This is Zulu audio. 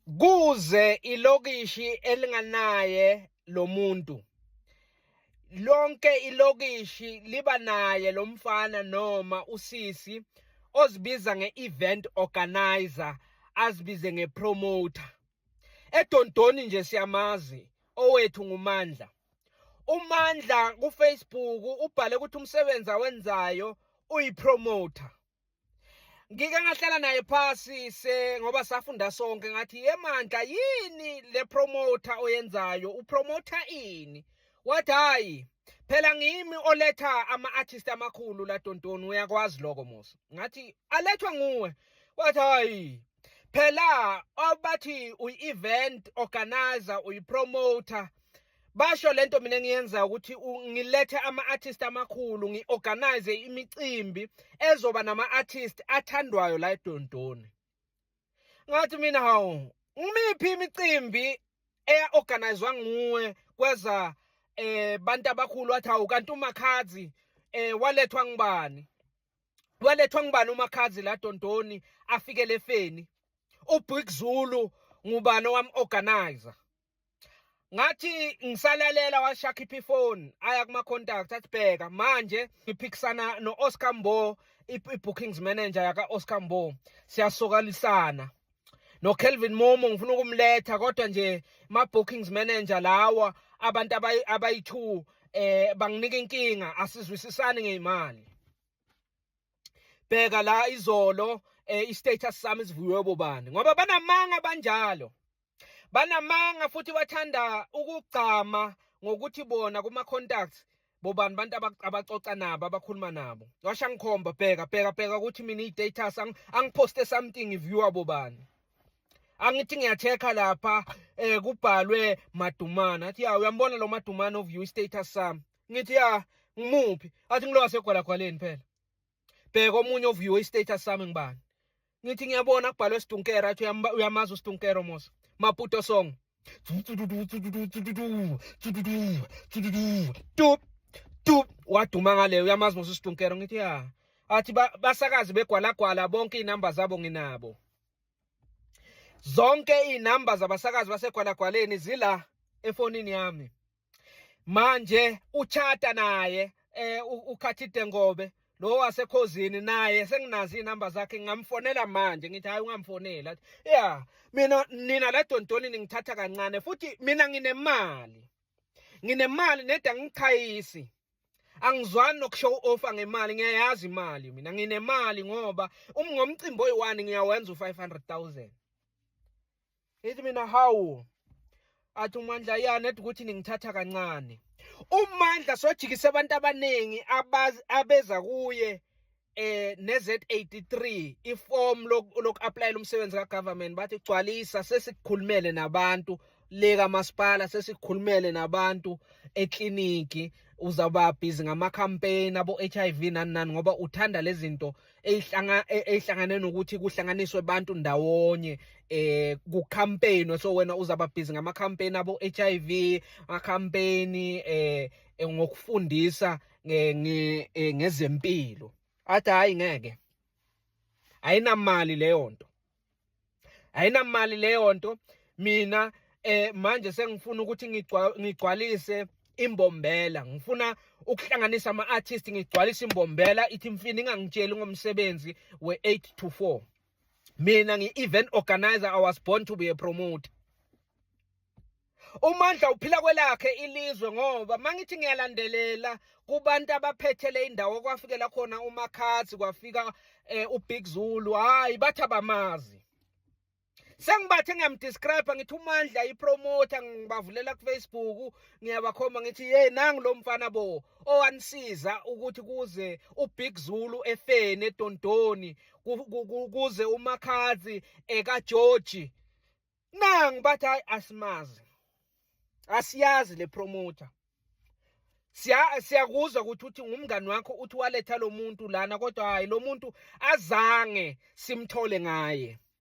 Kuze ilokishi elinganaye lo muntu lonke ilokishi liba naye lo mfana noma usisi ozibiza nge-event organizer azibize nge-promoter edondoni nje siyamazi owethu ngumandla umandla kufacebook ubhale ukuthi umsebenzi awenzayo uyipromoter ngike ngahlala naye phasi se ngoba safunda sonke ngathi yemandla yini le promoter oyenzayo upromoter ini wathi hayi phela ngimi oletha ama artist amakhulu la dontoni uyakwazi lokho musa ngathi alethwa nguwe wathi hayi phela obathi uyi-event organizer uyi-promoter basho lento mina ngiyenza ukuthi ngilethe ama-artist amakhulu ngi-organize imicimbi ezoba nama-artist athandwayo la edondoni ngathi mina hawu ngimiphi imicimbi eya-organizwa nguwe kweza eh bantu abakhulu wathi hawu kanti umakhazi eh walethwa ngubani walethwa ngubani umakhazi la Dondoni afike lefeni uBig Zulu ngubani owam-organizer ngathi ngisalalela washakhipha ifoni aya kuma-contact athi bheka manje ngiphikisana no-oscar mbo i-bookings manager yaka-oscar mbo siyasokalisana no Kelvin Momo ngifuna ukumletha kodwa nje ma bookings manager lawa abantu abayi2 eh banginika inkinga asizwisisani ngeimali bheka la izolo eh, i-status sami sivuyiwe bobani ngoba banamanga banjalo banamanga futhi bathanda ukugcama ngokuthi bona kuma-contacts bobani abantu abaxoxa nabo abakhuluma nabo washa ngikhomba bheka bheka bheka ukuthi mina i-status angiphoste something viewer bobani angithi ngiyathekha lapha eh kubhalwe madumana athi ya uyambona lo madumana oview i-status sami ngithi ya ngimuphi athi ngilowa segwalagwaleni phela bheka omunye ovuyiwe istatus sami ngibani ngithi ngiyabona kubhalwe sidunkera athi uyamazi usidunkero mosa maputo song tup tup waduma ngaleyo uyamazi mosa usidunkero ngithi ya athi basakazi begwalagwala bonke iy'namba zabo nginabo zonke iy'namba zabasakazi basegwalagwaleni zila efonini yami manje uchata naye eh ukhathi dengobe lo wasekhozini naye senginazi inamba zakhe ngamfonela manje ngithi hayi ungamfonela yeah mina nina la dontoni ningithatha kancane futhi mina nginemali nginemali neda ngichayisi angizwani nokushow off ngemali ngiyayazi imali mina nginemali ngoba umngomcimbi oyi-1 ngiyawenza u-500000 ithi mina hawu athi umandla yani ethi ukuthi ningithatha kancane umandla sojikise abantu abaningi abeza kuye eh neZ83 iform lokuapplyela umsebenzi kagovernment bathi gcwalisa sesikhulumele nabantu leka masipala sesikhulumele nabantu ekliniki uzaba busy ngama campaign abo HIV nani nani ngoba uthanda lezinto eyihlanga e, eyihlangane nokuthi kuhlanganiswe abantu ndawonye eh ku campaign so wena uzaba busy ngama campaign abo HIV ama campaign eh, eh ngokufundisa eh, ngezempilo athi hayi ngeke ayinamali leyo nto ayinamali leyo nto mina eh manje sengifuna ukuthi ngigcwalise imbombela ngifuna ukuhlanganisa ama artist ngigcwalise imbombela ithi mfini ingangitsheli ngomsebenzi we 8 to 4 mina ngi event organizer i was born to be a promoter uMandla uphila kwelakhe ilizwe ngoba mangithi ngiyalandelela kubantu abaphethele indawo kwafikela khona uMakhathi kwafika eh, uBig Zulu hayi bathi abamazi sengibathe ngiyamdescribe ngithi umandla ipromoter ngibavulela kufacebook ngiyabakhomba ngithi ye nangu lo mfana bo owanisiza ukuthi kuze ubig zulu efeni edondoni kuze umakhazi ekageorgi nangu bathi hayi asimazi asiyazi le promoter siya siyakuzwa ukuthi uthi ngumngani wakho uthi waletha lo muntu lana kodwa hayi lo muntu azange simthole ngaye